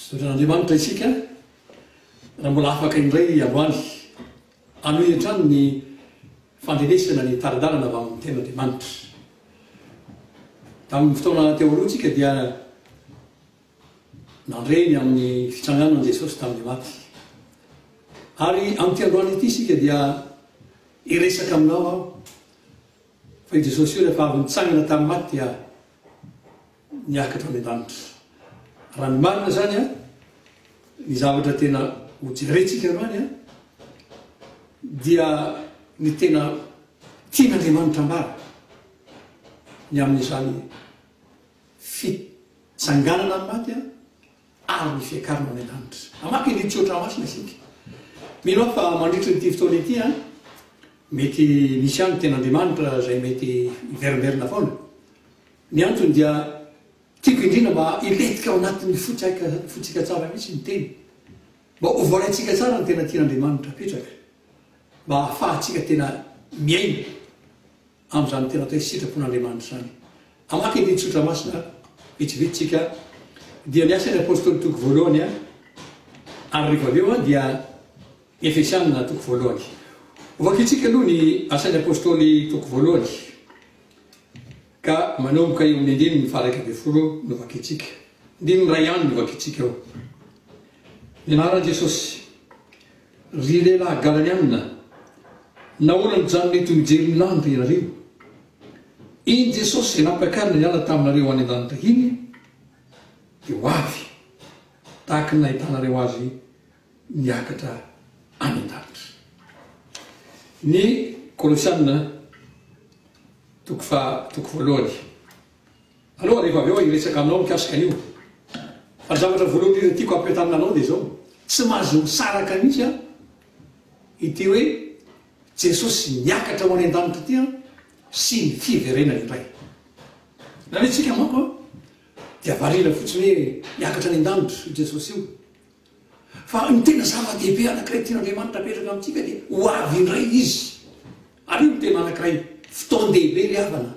Misaotra an'Andriamanitra isika raha mbola afaka indray androany hanohy hatrany ny fandrenesana ny tari-dalana avy amin'ny Tenin'Andriamanitra. Tamin'ny fotoana teo aloha tsika dia nandre ny amin'ny fitsanganan'i Jesosy tamin'ny maty. Ary amin'ity androany ity isika dia hiresaka aminao aho fa i Jesosy io rehefa avy nitsangana tamin'ny maty dia miakatra any an-danitra. Raha ny marina izany, ny zavatra tena hojerentsika androany dia ny tena tian'Andriamanitra ambara ny amin'izany fitsanganana amin'ny maty ary ny fiakarana any an-danitra. Hamaky ny tsiotra masina isika. Mino aho fa mandritra ity fotoana ity, mety misy ihany ny tenin'Andriamanitra izay mety hiverimberina foana. Ny antony dia tiako indrindra mba hilentika ao anatin'ny fontsika tsara mihitsy ny teny, mba ho voaraintsika tsara ny tena tian'Andriamanitra apetraka, mba hahafahantsika tena miaina amin'izany tena atao hoe sitrapon'Andriamanitra izany. Hamaky andinin-tsotra masina vitsivitsy tsika, dia ny asan'ny apostoly toko voalohany, ary rehefa avy eo dia ny Efesianina toko voalohany. Hovakitsika aloha ny asan'ny apostoly toko voalohany. Ka manomboka eo amin'ny andininy faha-iraika ambin'ny folo no vakintsika. Andininy iray ihany no vakintsika ao. Ny anaran'i Jesosy. Ry lehilahy Galaliana, nahoana nijanona eto mijery ny lanitra ianareo? Iny Jesosy izay nampiakarina niala taminareo any an-danitra iny dia ho avy, tahaka ny nahitanareo azy miakatra any an-danitra. Ny Kolosiana, toko faha toko voalohany. Aloha rehefa avy eo aho hiresaka aminao mikasika an'io, fa ny zavatra voalohany indrindra tiako hampiantarina anao dia izao, tsy mahazo misaraka mihitsy an, ity hoe Jesosy miakatra ho any an-danitra ity an, sy ny fiverenany indray. Na ny antsika manko an, dia variana fotsiny hoe miakatra any an-danitra io Jesosy io. Fa ny tena zava-dehibe anankiray tian'Andriamanitra hapetraka amintsika dia ho avy indray Izy. Ary io no tena anankiray fotoan-dehibe ry havana,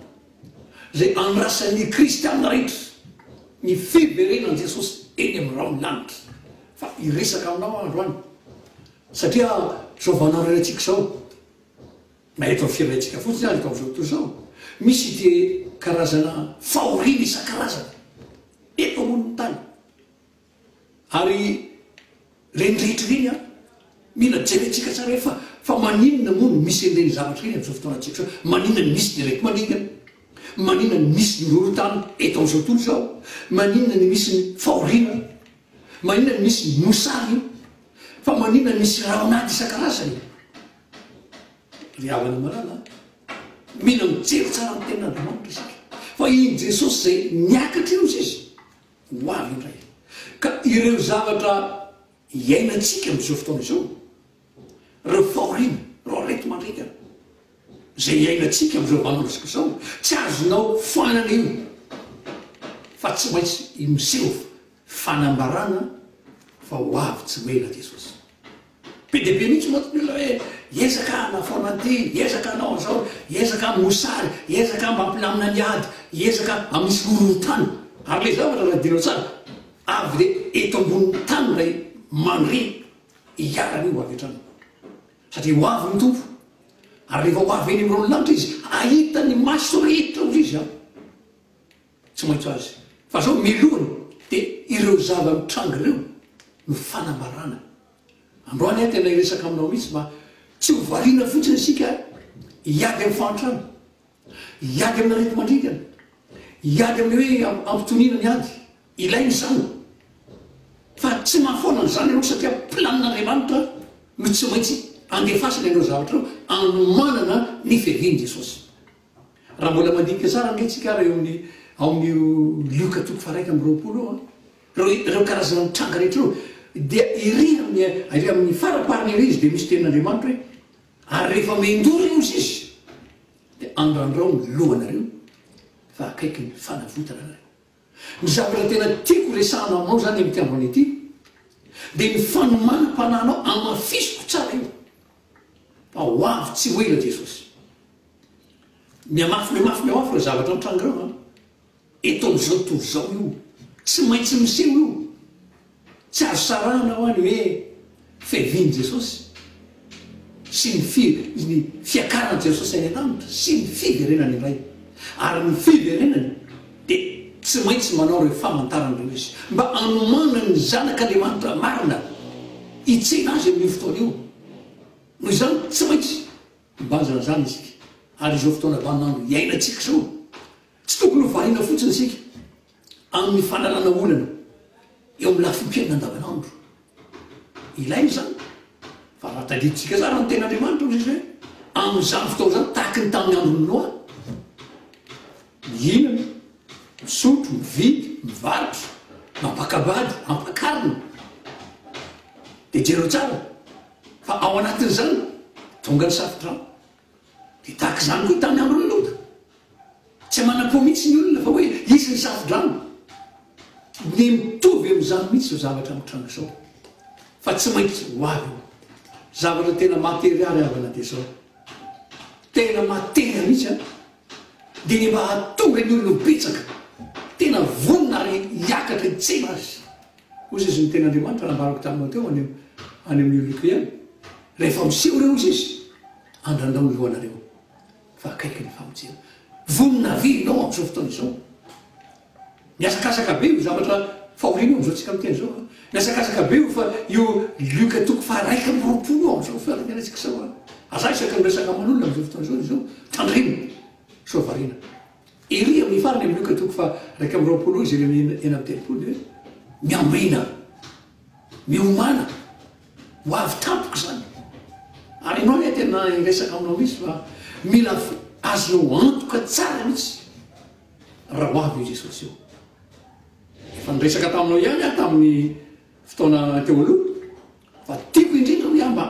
izay andrasan'ny kristiana rehetra, ny fiverenan'i Jesosy eny amin'ny rahon'ny lanitra. Fa hiresaka aminao aho androany, satria izao vaninandro iray antsika izao, na eto amin'ny firenentsika fotsiny aza eto amin'izao tontolo izao, misy ity karazana fahoriana isan-karazany eto ambonin'ny tany. Ary ireny rehetra ireny an, mila jerentsika tsara hoe fa fa maninona moa no misy an'ireny zavatra ireny amin'izao fotoanantsika izao? Maninona no misy direct maligna? Maninona no misy ny horohorontany eto amin'izao tontolo izao? Maninona no misy ny fahoriana? Maninona no misy ny mosary? Fa maninona no misy raon'ady isan-karazany? Ry havana malala an, mila mijery tsara ny tenin'Andriamanitra isika, fa i Jesosy izay niakatra eo izy. ho avy indray. Ka ireo zavatra iainantsika amin'izao fotoana izao, ireo fahoriana, ireo areti-mandringana izay iainantsika amin'izao vanim-potoana izao, tsy azonao foanana io fa tsy maintsy miseho fanambarana fa ho avy tsy ho ela Jesosy. Be dia be mihitsy mantsy ny olona hoe hiezaka hanafoana an'ity, hiezaka hanao an'izao, hiezaka hamoha sary, hiezaka mba hampilamina ny ady, hiezaka hamotsy horohorontany. Ary ilay zavatra raha adinao tsara, avy dia eto ambonin'ny tany ilay mandre iharany io ho avy hatrany. Satria ho avy ny Tompo, ary rehefa ho avy eny amin'ireo lanitra Izy, hahita ny maso rehetra hoy Izy aho. Tsy maintsy azy. Fa zao milohany de ireo zava mitranga ireo no fanambarana. Androany aho tena hiresaka aminao mihitsy mba tsy ho variana fotsiny isika hiady amin'ny fahantrana, hiady amina aretimandringana, hiady amin'ny hoe ampitoniana ny ady. Ilaina izany. Fa tsy mahafoana an'izany ianao satria planin'Andriamanitra no tsy maintsy andefasany ireo zavatra ireo anomanana ny firian'i Jesosy. Raha mbola mandinika tsara ange tsika ary eo amin'ny ao amin'io Lioka toko faharaika amby roapolo io an, ireo ireo karazana mitranga rehetra ireo dia ery amin'ny ery amin'ny faraparany ery izy dia misy tenin'Andriamanitra hoe, ary rehefa mendoro io izy dia andrandrao ny lohanareo fa akaiky ny fanavotana anareo. Ny zavatra tena tiako resahana aminao izany amin'ity androany ity dia ny fanomanam-panahinao hamafisiko tsara io fa ho avy tsy ho ela Jesosy. Mihamafy mihamafy mihamafy ireo zavatra mitranga ireo an! Eto amin'izao tontolo izao io tsy maintsy miseho io. Tsy azo sarahana ho'a ny hoe fiavian'i Jesosy sy ny fi, ny fiakaran'i Jesosy any an-danitra sy ny fiverenany indray. Ary ny fiverenany dia tsy maintsy manao ireo famantarana ireo izy, mba hanomanany ny Zanak'Andriamanitra marina hitsena azy amin'io fotoana io. Noho izany, tsy maintsy mibazana izany isika. Ary izao fotoana vaninandro iainantsika izao, tsy tokony ho variana fotsiny isika amin'ny fanalana olana eo amin'ny lafim-piainana andavanandro. Ilaina izany fa raha tadidintsika tsara ny tenin'Andriamanitra hoy Jesoa hoe amin'izany fotoana izany tahaky ny tamin'ny andron'i Noa, mihinana, misotro, mividy, mivarotra, mampaka-bady, mampakarina. Dia jereo tsara fa ao anatin'izany tonga ny safodrano. Dia tahaka izany koa tamin'ny andron'i Lota. Tsy manan-po mihitsy ny olona fa hoe hisy ny safodrano. Dia mitovy amin'izany mihitsy izao zavatra mitranga izao, fa tsy maintsy ho avy io zavatra tena materialy havana dia izao. Tena matera mihitsy an! Dia ny mba hahatonga ny olona ho betsaka, tena vonona ary hiakatra hitsena azy. Hoy Jesosy ny Tenin'Andriamanitra nambarako taminao teo any amin'io loko io ihany, Rehefa miseho ireo, hoy Izy, andrandrao ny lohanareo, fa akaiky ny famonjena. Vonona ve ianao amin'izao fotoana izao? Mihazakazaka be io zavatra fahoriana io amin'izao tsika miteny izao an! Mihazakazaka be io fa io Luka toko faharaika amby roapolo io amin'izao fotoana niainantsika izao an! Aza isaky ny resaka aman'olona amin'izao fotoana izao izao, tandremo, soa variana. Ery amin'ny farany amin'ny ok toko faha raika amby roapolo izy ireo eny amin'ny telopolo dia hoe. Miambina, miomàna, ho avy tampoka izany. Ary ianao anie tena hiresaka aminao mihitsy fa mila azonao antoka tsara mihitsy raha ho avy i Jesosy eo. Efa niresaka taminao ihany aho tamin'ny fotoana teo aloha fa tiako indrindra hoe aho mba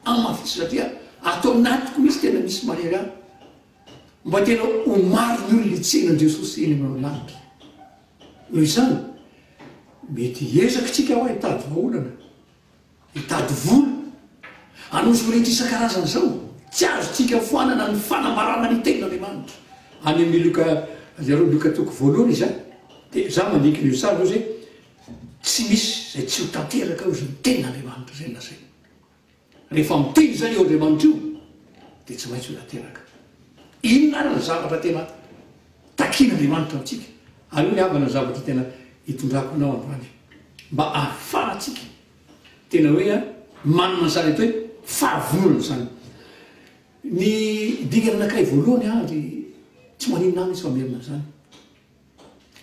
amafisina dia ato anatiko mihitsy tena misy mahery ahy. mba tena ho maro ny olona hitsena an'i Jesosy eny amin'ny lanitra. Noho izany, mety hiezaka isika hoa hitady vahaolana, hitady vola, hanao izao rehetra isan-karazany izao. Tsy azontsika foanana ny fanambarana ny Tenin'Andriamanitra. Any amin'ny Lioka, ianareo Lioka toko voalohany izany, dia izaho mandinika an'io sary io izay, tsy misy izay tsy ho tanteraka ao izany Tenin'Andriamanitra izay nolazainy. Rehefa miteny izany io Andriamanitra io dia tsy maintsy mila teraka. Inona ary ny zavatra tena takian'Andriamanitra amintsika? Aleo ny havana ny zavatra tena hitondrako anao androany mba ahafahantsika tena hoe manana izany atao hoe fahavononana izany. Ny dingana anankiray voalohany ary tsy maninona mihitsy fa merina amin'izany.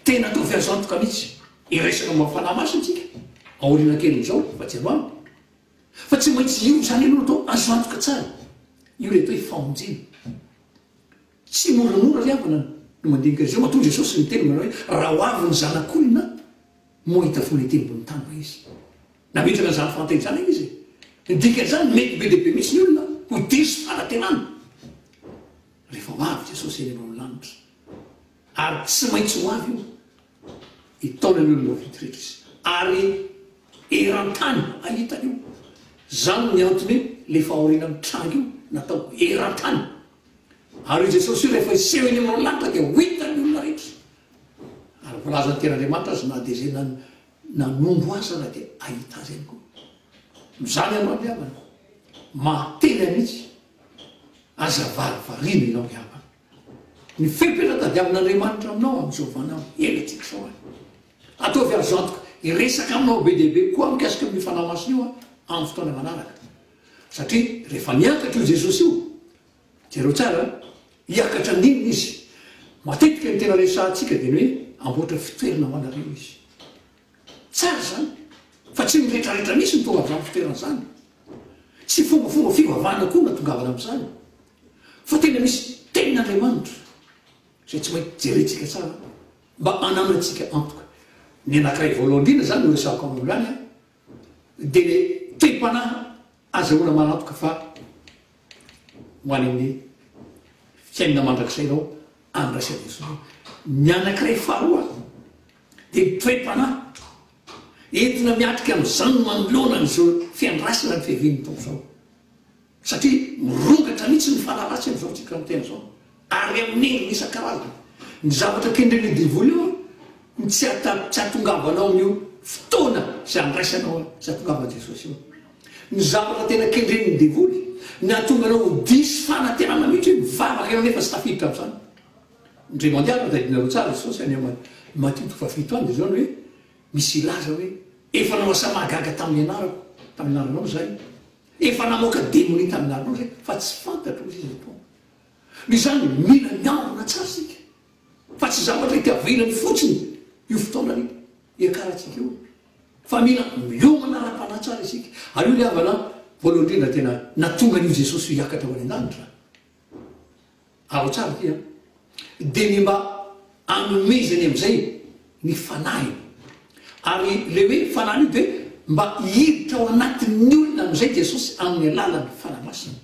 Tena ataovy azy antoka mihitsy hiresaka momba ny Fanahy Masina isika aoriana kelin'izao fa tsy androany. Fa tsy maintsy io izany aloha atao, azo antoka tsara. Io ilay atao hoe famonjena. Tsy moramora ry havana ny mandinika izao. Matoa Jesosy niteny manao hoe, Raha ho avy ny Zanak'olona, moa hahita finoana ety ambony tany va izy? Nametraka an'izany fahantena izany anie izy e! Ny dikan'izany, mety be dia be mihitsy ny olona ho diso fanantenana rehefa ho avy Jesosy eny ambony lanitra. Ary tsy maintsy ho avy io. ny taonany olona vitsy rehetra izy ary eran-tany ahitany io. Izany ny antony hoe ilay fahoriana mitranga io natao eran-tany. Ary io Jesosy io rehefa hiseho eny amin'ireo lanitra dia ho hitan'ny olona rehetra. Ary voalazan'ny Tenin'Andriamanitra azy na dia izay nanongo azy aza dia hahita azy ihany koa. Noho izany ianao ry havana, maha-tena mihitsy aza varivarina ianao ry havana. Ny fepetra tadiavin'Andriamanitra aminao amin'izao vaninandro hiainantsika izao an! Ataovy azy antoka hiresaka aminao be dia be koa aho mikasika amin'io Fanahy Masina io amin'ny fotoana manaraka. Satria rehefa miakatra io Jesosy io, jereo tsara an, hiakatra andiany Izy. Matetika ny tena resahantsika dia ny hoe hamboatra fitoerana ho anareo Izy. Tsara izany, fa tsy ny rehetrarehetra mihitsy no tonga amin'izany fitoerana izany. Tsy fombafomba fivavahana koa no nahatongavana amin'izany. fa tena misy tenin'Andriamanitra izay tsy maintsy jerentsika tsara mba hananantsika antoka. Ny anankiray voalohany indrindra izany no resahako amin'olo any an, dia le tem-panahy azahoana manantoka fa ho any amin'ny fiainana mandrakizay ianao andraisan'i Jesoa. Ny anankiray faharoa dia ny toe-panahy entina miatrika amin'izany manoloana an'izao fiandrasana ny fiavian'ny Tompo izao. Satria mirongatra mihitsy ny fanaratsiny izao isika miteny izao, ary amin'ny endriny isan-karazany. Ny zavatra kendren'io devoly io no tsy hahatongavanao amin'io fotoana izay handraisanao izay hahatongavan'i Jesosy io. Ny zavatra tena kendren'ny devoly, ny hahatonga anao ho diso fanantenana mihitsy hoe mivavaka ianao nefa tsy tafiditra amin'izany. Indray mandeha ary, tadidinareo tsara, Jesosy any amin'ny Matio toko fahafito any dia izao ny hoe, Misy hilaza hoe, Efa nanao asa mahagaga tamin'ny anarako, tamin'ny anaranao izahay. Efa namoaka demonia tamin'ny alina izy fa tsy fantatro izy izao foana. Noho izany mila miambina tsara isika fa tsy zavatra itiavinany fotsiny io fotoana io iakarantsika io fa mila miomana ara-panahy tsara isika. Ary io ny havana voalohany indrindra tena nahatonga an'io Jesosy io hiakatra ho any an-danitra. Alao tsara ity an! Dia ny mba anomezany amin'izay ny fanahiny. Ary ilay hoe fanahiny io dia mba hiditra ao anatin'ny olona amin'izay Jesosy amin'ny alalan'ny Fanahy Masina.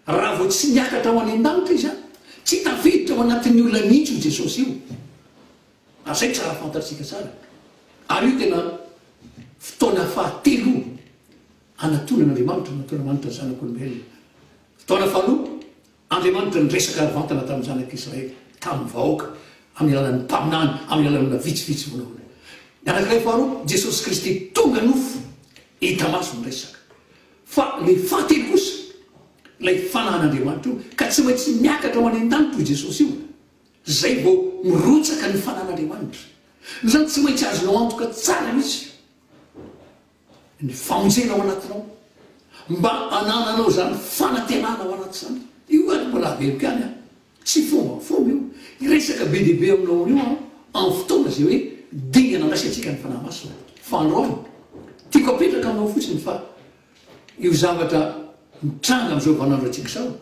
Raha vao tsy niakatra ho any an-danitra izy an, tsy tafiditra ao anatin'ny olona mihitsy io Jesosy io. Ary izay tsara fantatsika tsara. Ary io tena fotoana fahatelo hanatonan'Andriamanitra, hanaton'Andriamanitra ny Zanak'olombelona Taona faharoa, Andriamanitra niresaka ara-batana tamin'ny Zanak'i Israely, tamin'ny vahoaka, amin'ny alalan'ny mpaminany, amin'ny alalan'ny olona vitsivitsy vonahoana. Ny anankiray faharoa, Jesosy Kristy tonga nofo, hita maso niresaka. Fa ilay fahatelo kosa, ilay Fanahin'Andriamanitra io, ka tsy maintsy miakatra ho any an-danitra io Jesosy io, izay vao mirotsaka ny Fanahin'Andriamanitra. Noho izany, tsy maintsy azonao antoka tsara mihitsy io. ny famonjena ao anatinao mba hanananao izany fanantenana ao anaty izany. Io ary mbola averiko ihany an, tsy fomba fomba io, hiresaka be dia be aminao anio aho amin'ny fotoana izay hoe dingana andraisantsika ny Fanahy Masina. Fa androany, tiako hapetraka aminao fotsiny fa io zavatra mitranga amin'izao vaninandro antsika izao,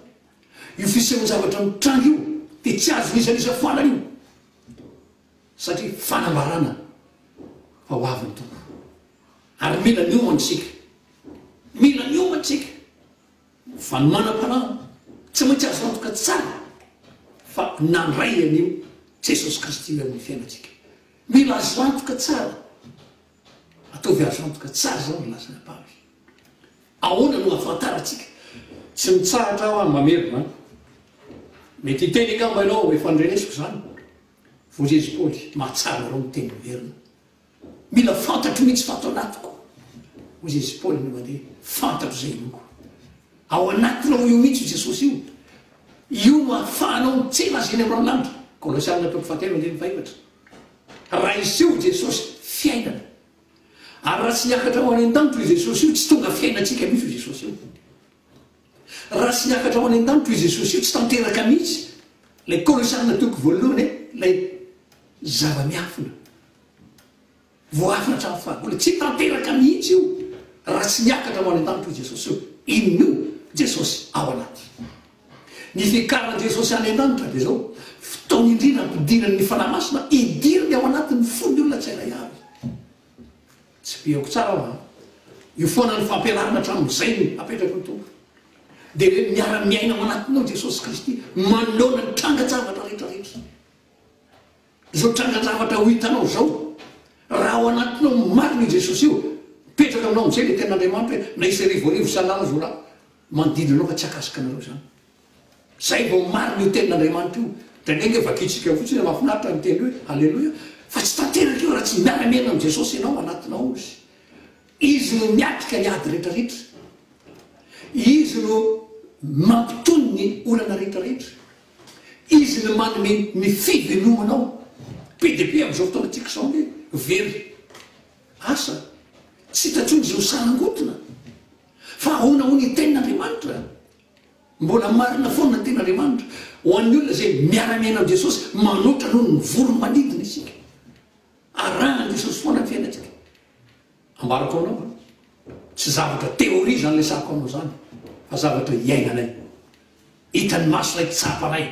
io fisehoan-javatra mitranga io dia tsy azo nizanizafana io. satria fanambarana fa ho avy ny Tompo. Ary mila miomana isika. Mila miomana isika. Fa ny manam-panahy tsy maintsy azo antoka tsara fa nandray an'io Jesosy Kristy io amin'ny fiainantsika. Mila azo antoka tsara. Ataovy azo antoka tsara izao ny lasan'i Paoly. Ahoana no ahafantarantsika? Tsy mitsahatra aho mamerina. Mety hiteny angamba ianao hoe, efa norenesiko izany. Voajery Paoly, mahatsara anareo miteny ho merina. Mila fantatro mihitsy fa ato anatiko. Voajery Paoly no mandeha, fantatro izay inoako. Ao anatinao io mihitsy io Jesosy io. Io no ahafahanao mitsena Azy eny amin'ny raolanitra. Kolosiana toko fahatelo andininy fahefatra. Raha hiseho i Jesosy, fiainana. Ary raha tsy niakatra ho any an-danitra io Jesosy io, tsy tonga fiainantsika mihitsy io Jesosy io. Raha tsy niakatra ho any an-danitra io Jesosy io, tsy tanteraka mihitsy ilay kolosalin'ny toko voalohany e, ilay zava-miafina, voaafina hatramin'ny fahagola. Tsy tanteraka mihitsy io raha tsy niakatra ho any an-danitra io Jesosy io. Inona io? Jesosy ao anaty. Ny fiakaran'i Jesosy any an-danitra dia izao, fotoana indrindra hampidinany ny Fanahy Masina hidiriny ao anatin'ny fon'ny olona tsirairay avy. Tsipihako tsara aho an! Io foana ny fampianarana hatramin'izay no apetraky ny Tompo. Dia hoe miara-miaina ao anatinao Jesosy Kristy manoloana ny trangan-javatra rehetra rehetra. Izao trangan-javatra ho hitanao izao, raha ao anatinao ny marina io Jesosy io, mipetraka aminao amin'izay ilay tenin'Andriamanitra hoe na hisy arivo arivo isan'alina izao rà manodidina anao fa tsy akasika anareo izany. Zay vao marina io tenin'Andriamanitra io. Indraindray nge vakintsika fotsiny hoe mafinaritra ny teny hoe Aleloia fa tsy tanteraka io raha tsy miara miaina amin'i Jesosy ianao anatinao Izy. Izy no miatrika ny ady rehetra rehetra. Izy no mampitony ny olana rehetra rehetra. Izy no manome ny fivelomanao. Be dia be amin'izao fotoana antsika izao nge very asa. Tsy hita intsony izay ho sarangotina. Fa ahoana hono io tenin'Andriamanitra? Mbola marina foana ny tenin'Andriamanitra ho an'ny olona izay miara-miaina amin'i Jesosy, manoatra noho ny voron'ny manidina isika. Arahan'i Jesosy foana ny fiainantsika. Ambarako anao fa tsy zavatra théorie izany lesahako anao izany, fa zavatra iainanay. Hitan'ny maso ilay tsapanay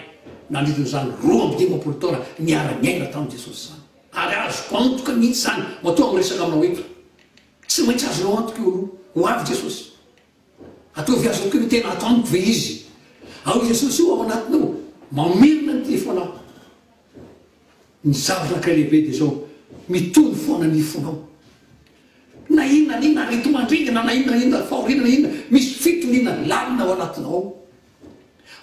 nandritra izany roa amby dimampolo taona niara-niaina tamin'i Jesosy izany. Ary azoko antoka mihitsy izany, matoa miresaka aminao eto. Tsy maintsy azonao antoka eo aloha, ho avy Jesosy. Ataovy azy aoka io tena ato amiko ve izy? Ao Jesosy io ao anatinao, mamerina ny telefonao. Ny zava-naka lehibe dia izao, mitony foana ny fonao. Na inona na inona areti-mandringana, na inona na inona fahoriana, na inona, misy fitoniana lalina ao anatinao ao.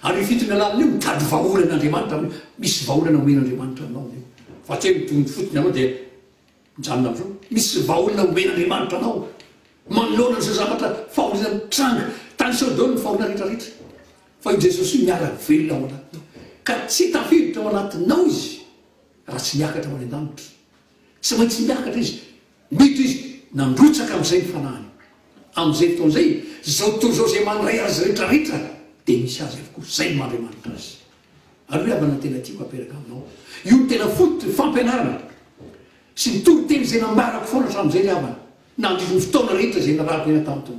Ary io fitoniana lalina io mitady vahaolan'Andriamanitra amin'io, misy vahaolana omen'Andriamanitra anao amin'io. Fa tsy hoe mitony fotsiny ianao dia Mijanona avoa. Misy vahaolana omen' Andriamanitra anao manoloana izao zavatra fahoriana mitranga. Tanisaho daholo ny fahoriana rehetra rehetra fa io Jesosy io miara velona ao anatinao ka tsy tafiditra ao anatinao izy raha tsy miakatra ho any an-danitra. Tsy maintsy miakatra izy. Mety izy nandrotsaka amin'izay ny fanahiny. Amin'izay fotoana izay, izao tontolo izao izay mandray azy rehetra rehetra dia misy azy avokoa. Izay ny maha Andriamanitra azy. Ary ry havana tena tiako apetraka aminao io no tena fototry ny fampianarana sy ny toriteny izay nambarako foana hatramin'izay ry havana, nandritry ny fotoana rehetra izay niarahako hiaina tamiko.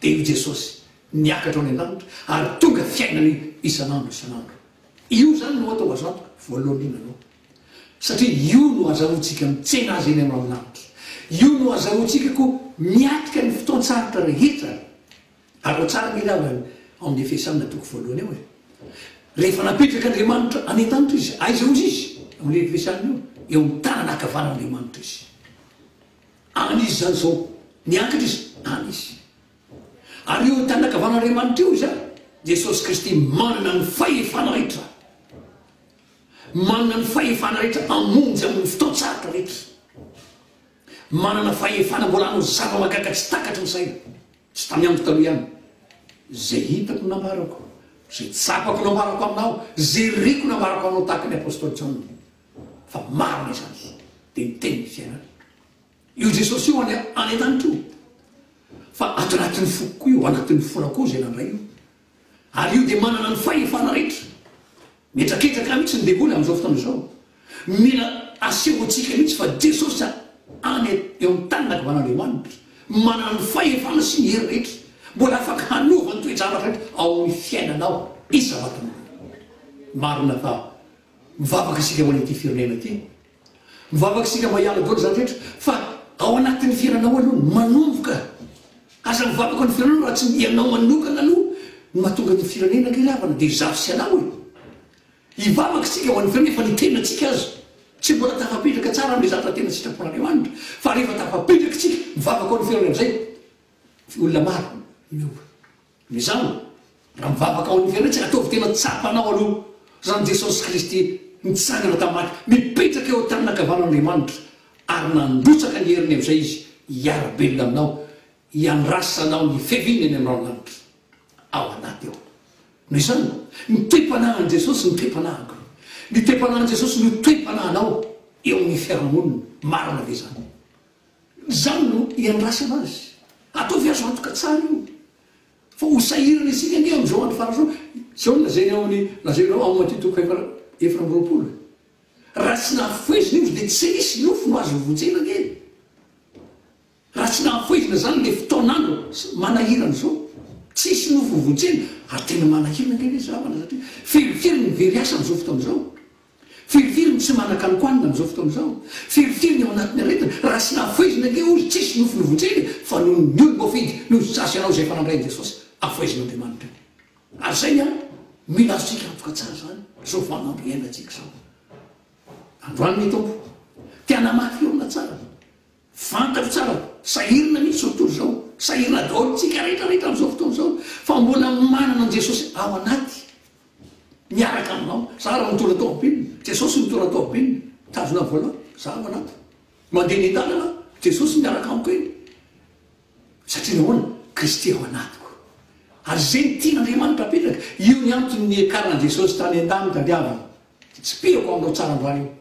Dia io Jesosy niakatra any an-danitra ary tonga fiainana isan'andro isan'andro. Io izany no atao azantoka voalohany indrindra aloha. Satria io no azahoantsika mitsena Azy eny amin'ny ravin'aritra. Io no azahoantsika koa miatrika ny fotoan-tsarotra rehetra. Alao tsara ve ilay ao amin'ny Efesanina toko voalohany ao e? Rehefa napetraka Andriamanitra any an-tanitra izy, aiza ozy izy? Ao amin'io Efesanina io. Eo amin'ny tanana ankavanan'Andriamanitra izy. Any izy izany izao. Niankatra izy, any izy. Ary eo an-tanana ankavanan'Andriamanitra eo izy, Jesosy Kristy manana ny fahefana rehetra. Manana ny fahefana rehetra hamonjy amin'ny fotoan-tsarotra rehetra. Manana fahefana mbola hanao zava-mahagaga tsy takatry ny saina. Tsy tany amiko taloha ihany izay hitako nambarako, izay tsapako nambarako aminao, izay reko nambarako anao tahaka ny Apostoly Jaona fa marina izany dia ny tenin'ny fiainana. Io Jesosy io any an-danitra io fa ato anatin'ny foko koa io, anatin'ny fonao koa izay nandray io Ary io dia manana ny fahefana rehetra. Mihetraketraka mihitsy ny devoly amin'izao fotoana izao. Mila asehontsika mihitsy fa Jesosy any eo amin'ny tany nangavan'Andriamanitra, manana ny fahefana sy ny hery rehetra. Mbola afaka hanova ny toe-javatra rehetra ao amin'ny fiainanao isavatanana. Marina fa mivavaka isika ho an'ity firenena ity. Mivavaka isika mba hiala daholo izany rehetra fa ao anatin'ny fiainanao aloha no manomboka. Aza mivavaka ny firenanao raha tsy ianao manokana aloha no mahatonga ny firenena ange ry havana dia zafy sy anao e. Hivavaka isika ho an'ny firenena efa ny tenantsika aza tsy mbola tafapetraka tsara amin'ilay zavatra tena sitrapon'Andriamanitra fa rehefa tafapetraka isika mivavaka ho an'ny firenena amin'izay olona maro no miova. Noho izany, raha mivavaka ho an'ny fiainantsika, ataovy tena tsapa anao aloha, Ran'i Jesosy Kristy nitsangana tamin'ny maty, mipetraka eo an-tanana ankavanan'Andriamanitra, ary nandrotsaka ny heriny amin'izay Izy hiara-belona aminao, hiandrasa anao ny fiaviany any aminao ny lanitra. Ao anaty ao. Noho izany, ny toe-panahin'i Jesosy no toe-panahiko. Ny toe-panahin'i Jesosy no toe-panahinao eo amin'ny fiarahamonina. Marina ve izany? Izany no iandrasana azy. Ataovy azo antoka tsara io fa ho sahirana isika ange amin'izao andro faran'izao. Izao no lazainy ao amin'ny, lazainao ao Matia toko fahefa, efatra amby roapolo, Raha tsy nahafohezina izy dia tsy nisy nofo no azo vonjena ange. Raha tsy nahafohezina izany ilay fotoan'andro manahirana izao, tsy hisy nofo ho vonjena, ary tena manahirana ange ilay zavatra satria feno kely ny very asa amin'izao fotoana izao. Firifiry no tsy manan-kanonkohanina amin'izao fotoana izao? Firifiry ny ao anatin'ny aretina? Raha tsy nafoizina ange hozy tsisy nofonofontsika e! Fa noho ny olom-boafidy, noho ny sasy anao izay efa nandray an'i Jesosy, afoizin'Andriamanitra anie. Ary izay ny antony mila azontsika antoka tsara izany izao vanin'andro iainantsika izao. Androany ny Tompo te hanamafy eo aminà tsarany. Fantatro tsara fa sahirana mihitsy izao tontolo izao, sahirana daholo isika rehetra rehetra amin'izao fotoana izao, fa mbola manana an'i Jesosy ao anaty, miaraka aminao, za raha mitondra tômôbilina, Jesosy mitondra tômôbilina, mitazona volant, za ao anaty, mandeha eny an-dalana aho, Jesosy miaraka amiko eny, satria nahoana, Kristy ao anatiko, ary izay no tian'Andriamanitra apetraka, io ny antony niakaran'i Jesosy tany an-tany tadiaviny, tsipihako amin'ireo tsaran-drano io,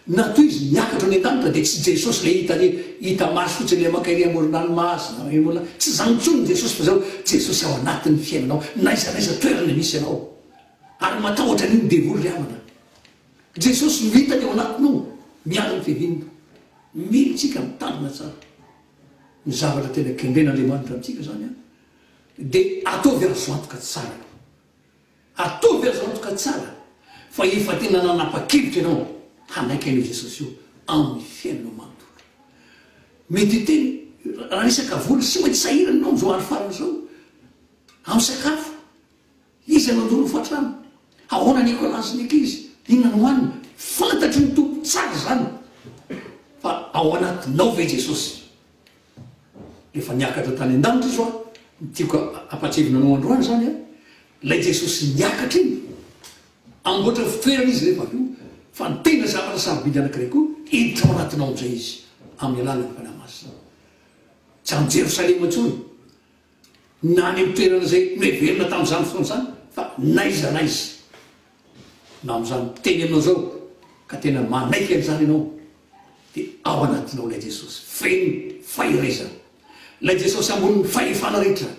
Na toy izy niakatra any an-danitra dia tsy Jesosy ilay hita re, hita maso fotsiny ilay maka ery amoron'ala mahazo na hoe olona, tsy izany intsony ny Jesosy fa izao, Jesosy ao anatin'ny fiainanao n'aiza n'aiza toerana misy ianao. Ary matahotra an'io ny devoly ry havana. Jesosy no hitany ao anatinao miaro ny fiaviany. Mila antsika mitandrina tsara. Ny zavatra tena kendren'Andriamanitra amintsika izany dia ataovy azo antoka tsara aloha. Atovy azy antoka tsara fa efa tena nanapa-kevitra ianao hanaiky an'io Jesosy io amin'ny fiainanao manontolo. Mety hiteny, Raha resaka vola, tsy maintsy sahirana ianao amin'izao andro farany izao amin'ny sakafo. Iza no nijoro ho fatrano? Ahoana ny ekolansin'ny ankizy? Inona no hohanina? Fantatry ny Tompo tsara izany. Fa ao anatinao ve Jesosy? Efa niakatra tany an-danitra izy hoa, ny tiako hampahatsiahivina anao androany izany an, ilay Jesosy niakatra iny, hamboatra ny fitoerana izy rehefa avy eo, fa ny tena zavatra sarobidy anankiray koa hiditra ao anatinao amin'izay izy, amin'ny alalan'ny Fanahy Masina. Tsy any Jerosalema intsony. na any amin'ny toerana izay noheverina tamin'izany fotoana izany fa n'aiza n'aiza na amin'izany miteny anao izao ka tena manaiky an'izany ianao dia ao anatinao ilay Jesosy feno fahirezana ilay Jesosy ambonin'ny fahefana rehetra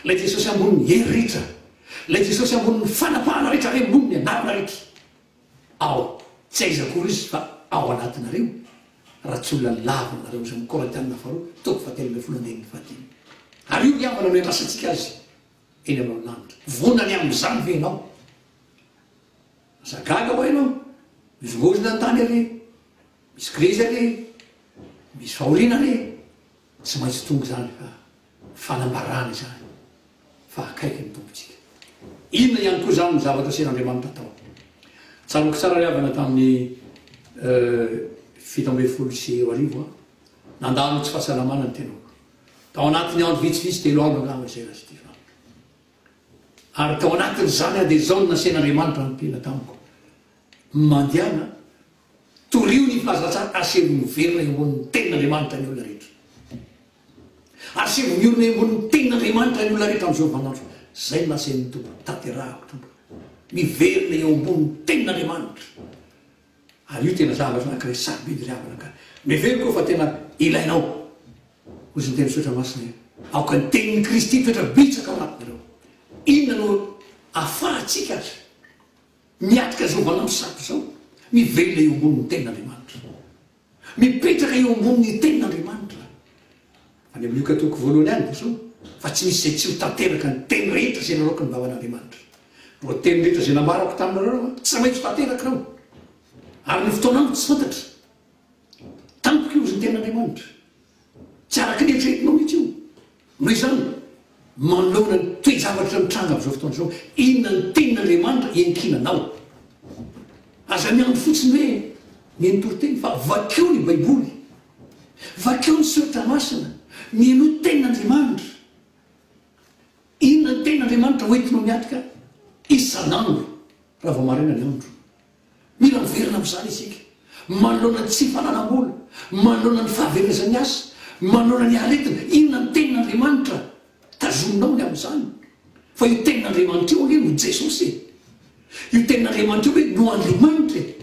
ilay Jesosy ambonin'ny hery rehetra ilay Jesosy ambonin'ny fanapahana rehetra ary ambonin'ny anarana rehetra ao tsy aiza akory izy fa ao anatinareo raha tsy olona lavo aminareo izany Korintiana faharoa toko fahatelo ambin'ny folo andininy fahadimy ary io diavolo no iandrasantsika azy eny aminao lanitra vonany amin'izany ve ianao asa gaga hoa ianao mizongozona ny tany anie misy krizy anie misy fahoriana anie tsy maintsy tonga izany fa Fanambarana izany fa akaiky ny Tompontsika. Inona ihany koa izany no zavatra asian'Andriamanitra tao? Tsaroako tsara ry havana tamin'ny fito ambin'ny folo sy roa arivo an, nandalo tsy fahasalamana ny tenako. Tao anatin'ny andro vitsivitsy, telo andro angamba izay lasa ity farako. Ary tao anatin'izany an dia izao no nasehina Andriamanitra niteny tamiko, Mandehana Torio ny filazantsara Asehoy miverina eo ambonin'ny tenin'Andriamanitra ny olona rehetra. Asehoy miorina eo ambonin'ny tenin'Andriamanitra ny olona rehetra amin'izao vanin'andro izao. Izay no nasain'ny Tompo hotanterahako tompoko. Miverina eo ambonin'ny tenin'Andriamanitra. Ary io tena zavatra anankiray sarobidy ry havana ka. Miheveriko aho fa tena ilainao. Hoy izao ny tenin'ny Soratra Masina hoe, Aoka ny tenin'i Kristy mitoetra bitsaka ao anatinareo. Inona no ahafahantsika ary? Miatrika izao valan'ny sato izao, mivelona eo ambonin'ny tenin'Andriamanitra. Mipetraka eo ambonin'ny tenin'Andriamanitra. Any amin'ny Lioka toko voalohany any dia izao, Fa tsy misy izay tsy ho tanteraka ny teny rehetra izay nalaoko ny vavan'Andriamanitra. Ireo teny rehetra izay nambarako taminareo aho, tsy maintsy ho tanterakao. Ary ny fotoananko tsy fantatro. Tampoka io, hoy ny tenin'Andriamanitra. Tsy araka ny eritreretinao mihitsy io. Noho izany, manoloana ny toe-javatra mitranga amin'izao fotoana izao, inona ny tenin'Andriamanitra iankinanao? Aza miandry fotsiny hoe ny ny toriteny, fa vakio ny Baiboly, vakio ny Soratra Masina, mino tenin'Andriamanitra. Inona ny tenin'Andriamanitra hoentinao miatrika isan'andro raha vao maraina ny andro? Mila miverina amin'izany isika, manoloana ny tsy fananam-bola, manoloana ny fahaverezan'ny asa, manoloana ny aretina. Inona ny Tenin'Andriamanitra tazominao ny amin'izany? Fa io Tenin'Andriamanitra io anie no Jesosy e! Io Tenin'Andriamanitra io ve no Andriamanitra e!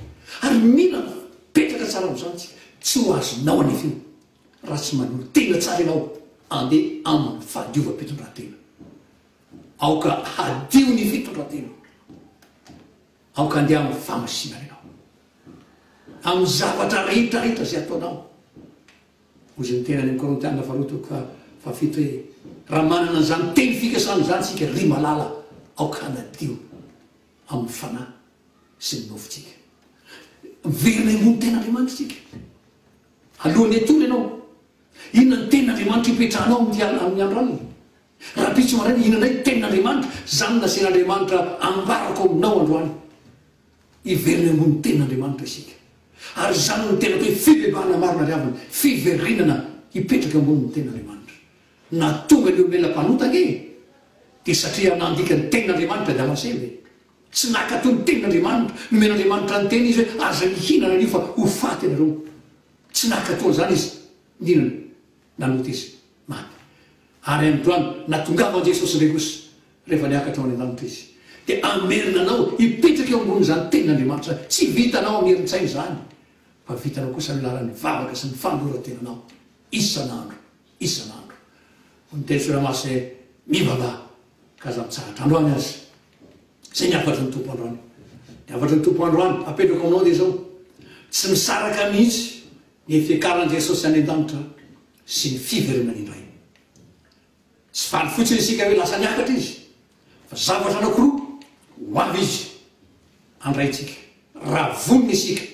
Ary mila mipetraka tsara amin'izany isika. Tsy ho azonao anefena raha tsy manolo tena tsara ianao handeha amin'ny fahadiovam-pitondrantena. Aoka hadio ny fitondrantena. Aoka andeha amin'ny famosinana ianao, amin'ny zavatra rehetra rehetra izay ataonao. Hozy ny tenany amin'ny Korintiana faharoa toko faha fahafito hoe, Raha manana an'izany teny fikasana izany isika, ry malala, aoka hanadio amin'ny fanahy sy ny nofontsika. Miverina hiroho ny tenin'Andriamanitra isika. Alohan'ny hatory ianao, inona ny tenin'Andriamanitra ipetrahanao amin'ny amin'ny andro alina? Rahampitso maraina ihinanay ny Tenin'Andriamanitra, izany nasen'Andriamanitra ambarako aminao androany. Hiverina ambony Tenin'Andriamanitra isika. Ary izany no tena hoe fibebahana marina ry havana, fiverenana hipetraka ambony ny Tenin'Andriamanitra. Na tonga ny olona ela mpanota ange e! Dia satria nandika ny Tenin'Andriamanitra Damaseno e! Tsy nankatò ny Tenin'Andriamanitra, nomen'Andriamanitra ny tena izy hoe aza mihinana an'io fa ho faty ianareo. Tsy nankatò an'izany izy, nihinana, nanota izy. maty. Ary androany, na tongava Jesosy indray kosa, rehefa niakatra ho any an-danitra Izy, dia hamerina anao hipetraka eo ambonin'izany Tenin'Andriamanitra izany. Tsy vitanao amin'ny herin-tsaina izany, fa vitanao kosa amin'ny alalan'ny vavaka sy ny fanoloran-tenanao, isan'andro, isan'andro. Hoy ny teny soa Ramaso hoe, Mivavaha, ka aza mitsahatra. Androany aza. Izay ny hafatry ny Tompo androany. Ny hafatry ny Tompo androany, apetrako aminao dia izao, Tsy misaraka mihitsy ny fiakaran'i Jesosy any an-danitra. sy ny fiverenany indray. Tsy faly fotsiny isika hoe lasa niakatra izy fa zavatra anankiroa ho avy izy andraintsika raha vonona isika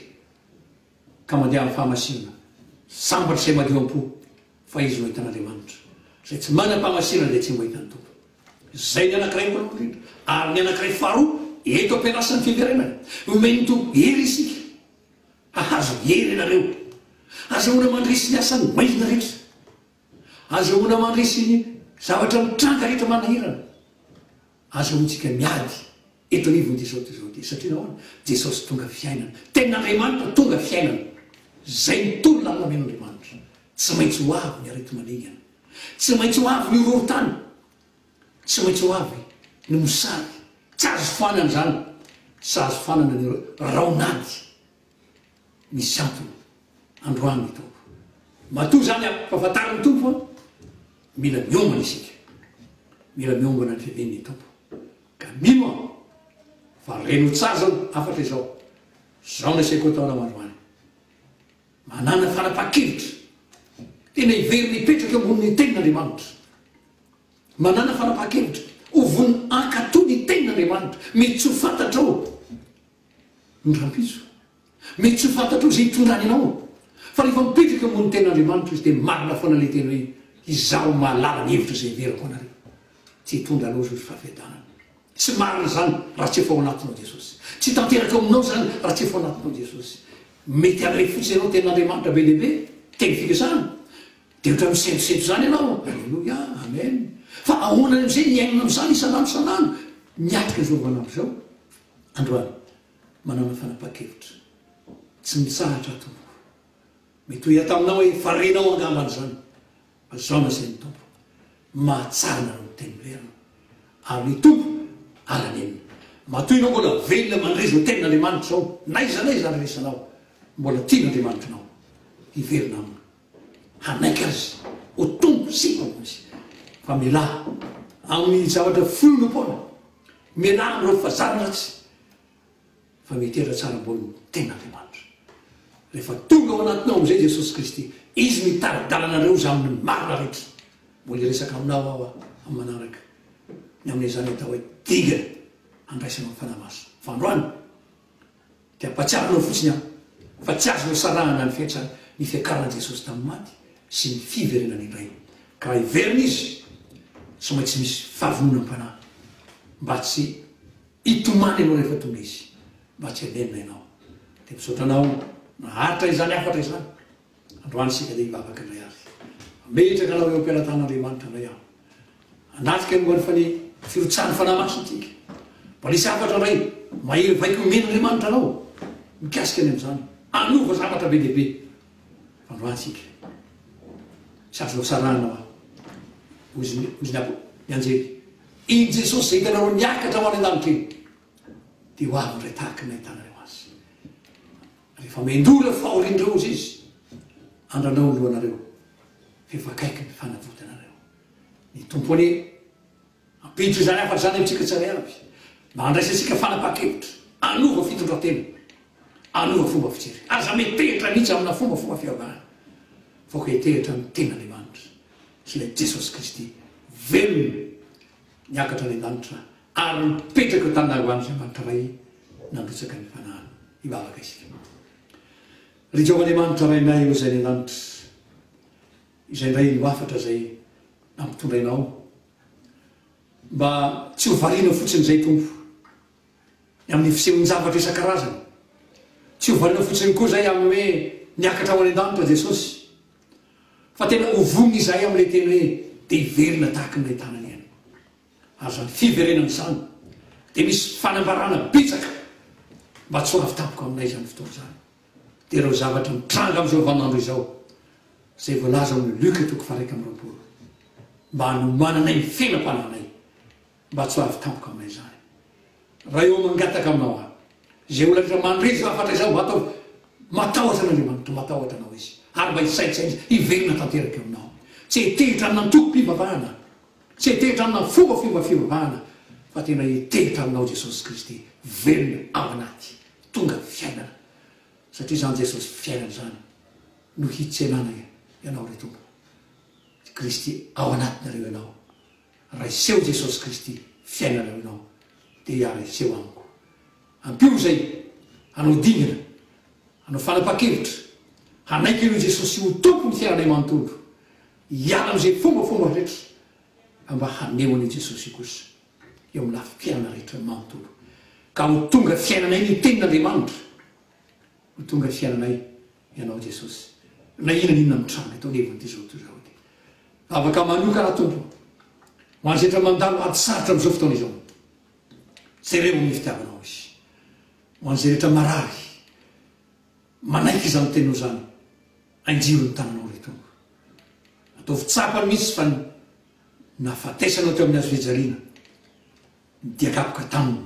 ka mandeha amin'ny fahamasinana, sambatra izay madio am-po fa izy no ahitan'Andriamanitra, izay tsy manam-pahamasinana dia tsy mba hitan'ny Tompo. Izay ny anankiray voalohany indrindra. Ary ny anankiray faharoa eto am-pianasan'ny fiverenany. Omen'ny Tompo hery isika Hahazo hery ianareo. Azahoana mandresy ny asan'ny bainina rehetra. Azahoana mandresy ny zavatra mitranga rehetra manahirana. Azahoantsika miady eto anivon'i Jesosy Kristy izao dia. Satria nahoana? Jesosy tonga fiainana. Tena Andriamanitra tonga fiainana. Izay no tolona nolamen'Andriamanitra. Tsy maintsy ho avy ny areti-maningana. Tsy maintsy ho avy ny horohorontany. Tsy maintsy ho avy ny mosary. Tsy azo foanana izany. Tsy azo foanana ny raonady. Misy antony androany ny Tompo. Matoa izany an, fa fantarin'ny Tompo fa mila miombona isika. Mila miombona ny fidin'ny Tompo. Ka mino aho fa reno-tsazana hafatra izao. Izao no asiako atao anao androany. Manana fanapahan-kevitra tena hiverina hipetraka eo ambonin' ny tenin' Andriamanitra. Manana fanapahan-kevitra ho vonon' hankatò ny tenin' Andriamanitra. Mety tsy ho fantatrao ny rampiso. Mety tsy ho fantatrao izay hitondrany anao. Fa rehefa mipetraka eo ambonin' ny tenin' Andriamanitra izy dia marina foana ilay teny hoe, Izaho mahalala ny hevitra izay hiverako ho anareo. Tsy hitondra anao izao ny fahafiadanana. Tsy marina izany raha tsy efa ao anatinao Jesosy. Tsy tanteraka ao aminao izany raha tsy efa ao anatinao Jesosy. Mety haray fotsiny ianao ny tenin'Andriamanitra be dia be, teny fikasana. Dia ohatran'ny misentosento izany ianao. Aleloia, amen. Fa ahoana amin'izay ny hiainana amin'izany isan'andro isan'andro? Miatrika izao andro izao androany. Manana fanapahan-kevitra. Tsy mitsahatra tompoko. Mety ho hita aminao hoe farenao angamba izany. Azaona zay ny Tompo. Mahatsara nareo miteny merina. Ary ny Tompo ala nenina. Matoa ianao mbola velona mandre zao tenin Andriamanitra zao naiza naiza andrenesanao mbola tina Andriamanitrnao hiverina aminy hanaiky azy ho Tompo sy Mpamony izy fa mialà aminy zavatra fionompoana mialà amreo fazana ratsy fa mety hira tsara ambony ny ten'Andriamanitra. Rehefa tonga ao anatinao amin'izay Jesosy Kristy, Izy no hitari-dalana anareo izy aminy ny marina rehetra. Mbola hiresaka aminao aho amin'ny manaraka ny amin'izany atao hoe dingana handraisanao ny Fanahy Masina. Fa androany dia hampatsiaro anao fotsiny aho fa tsy azonao sarahana ny fetra ny fiakaran'i Jesosy tamin'ny maty sy ny fiverenany indray. Ka raha hiverina Izy, tsy maintsy misy fahavononam-panahy mba tsy Hitomany ianao rehefa tonga izy mba tsy hamelona ianao. Dia misaotra anao naharitra izany hafatra izany. Androany isika dia hivavaka indray ary. Hametraka anao eo am-pelatan'Andriamanitra indray aho. Hanatrika momba ny fane, firotsahan'ny Fanahy Masina isika. Mba nisy hafatra indray mahery vaika omen'Andriamanitra anao mikasika ny amin'izany. Hanova zavatra be dia be Androantsika. Sady nosarahana ho ahy. Hoy izy ny apoky, ny anjely. I Jesosy izay hitanareo niakatra ho any an-danitra iny, dia ho avy indray tahaka ny nahitanareo Azy. Rehefa miandoha ilay fahorian'ireo ozy Izy, andrandrao ny lohanareo, fa efa akaiky ny fanavotanareo. Ny Tompo anie. Hampiditra izany hafatra izany amintsika tsirairay avy mba handraisantsika fanapahan-kevitra hanova fitondran-tena, hanova fomba fijery. Aza metehitra mihitsy amina fombafomba fivavahana fa koa etehitra amin'ny Tenin'Andriamanitra sy ilay Jesosy Kristy velona niakatra any an-danitra ary mipetraka eo taminay ho an'Andriamanitra Ray nandrotsaka ny fanahiny. Hivavaka isika. Ry Jehovah Andriamanitra Rainay o Izay any an-danitra, izay indray no hafatra izay nampitondrainao Mba tsy ho variana fotsiny izay Tompo ny amin'ny fisehon-javatra isan-karazany. Tsy ho variana fotsiny koa izay amin'ny hoe miakatra ho any an-danitra Jesosy. Fa tena ho vonona izahay amin'ilay teny hoe dia hiverina tahaka ny nahitanany Ainy. Ary izany fiverenana izany dia misy fanambarana betsaka mba tsy ho avy tampoka aminay izany fotoana izany. dia ireo zavatra mitranga amin'izao vanin'andro izao, izay voalaza ao amin'ny Luka toko faharaika amby roapolo, mba hanomananay ny fenam-panahinay, mba tsy ho avy tampoka aminay izany. Raha eo mangataka aminao aho, izay olona rehetra mandre izao hafatra izao, mba ataovy matahotra an'Andriamanitra, ho matahotra anao Izy, ary mba hisaintsaina Izy hiverina tanteraka eo aminao. Tsy hetehitra amina antokom-pivavahana, tsy hetehitra amina fomba fomba fivavahana, fa tena hetehitra aminao Jesosy Kristy, velona ao anaty Tonga ny fiainana satria izany Jesosy fiainana izany no hitsenana ianao ry Tompo ry Kristy ao anatinareo ianao raiseho Jesosy Kristy fiainanareo ianao dia raiseho amiko ampio izay hanao dingana hanao fanapaha-kevitra hanaiky an'io Jesosy ho Tompo ny fiainanay manontolo hiala amin'izay fombafomba rehetra fa mba haneho an'io Jesosy io kosa eo amin'ny lafim-piainana rehetra ny manontolo, ka ho tonga fiainanay ny Tenin'Andriamanitra. Ho tonga fiainanay Ianao Jesosy, na inona na inona mitranga eto anivon'ity izao tontolo izao ity. Vavaka manokana, Tompo, ho an'izay efa mandalo ady sarotra amin'izao fotoana izao. Jereo amin'ny fitiavanao Izy. Ho an'izay rehetra marary, manaiky izany Teninao izany, anjiro ny tananao, ry Tompo. Ataovy tsapany mihitsy fa ny Nahafatesana teo amin'ny hazo fijaliana ny diakapoka tamin'ny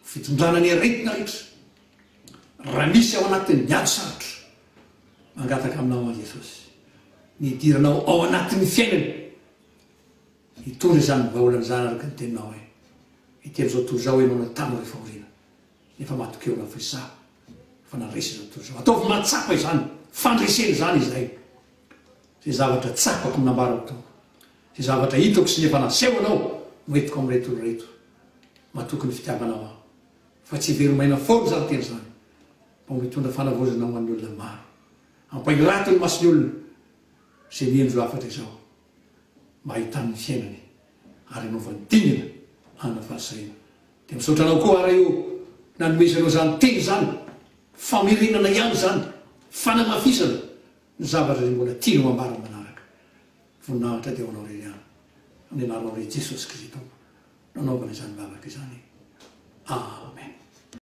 fitondrana ny aretina rehetra. Raha misy ao anatin'ny ady sarotra, mangataka aminao aho Jesosy, ny hidiranao ao anatin'ny fiainany. Hitondra izany vahaolana izany araka ny teninao aho. Hiteny izao toy izao ianao na tamin'ireo fahoriana. Efa matokia olona firesaha fa nandresy izao tontolo izao. Ataovy mahatsapa izany fandresena izany izahay. Izay zavatra tsapako no nambarako tao. Izay zavatra hitako sy ny efa nasehonao no entiko amin'ireto olona ireto. Matoky ny fitiavanao aho. Fa tsy hivelomaina foana izany teny izany. Mba ho mitondra fanavaozana ho an'ny olona maro. Ampahirato ny mason'ny olona izay miendry ho hafatra izao. mba hahitany ny fiainany ary hanaovany dingana hanana fahasahina. Dia misaotra anao koa ara eo nanomezanao izany teny izany, famerenana ihany izany, fanamafisana ny zavatra izay mbola tianao hambara ny manaraka. Voninahitra dia ho anao irery ihany amin'ny anaranao irery Jesosy Kristy Tompo nanaovana izany vavaka izany. Amen.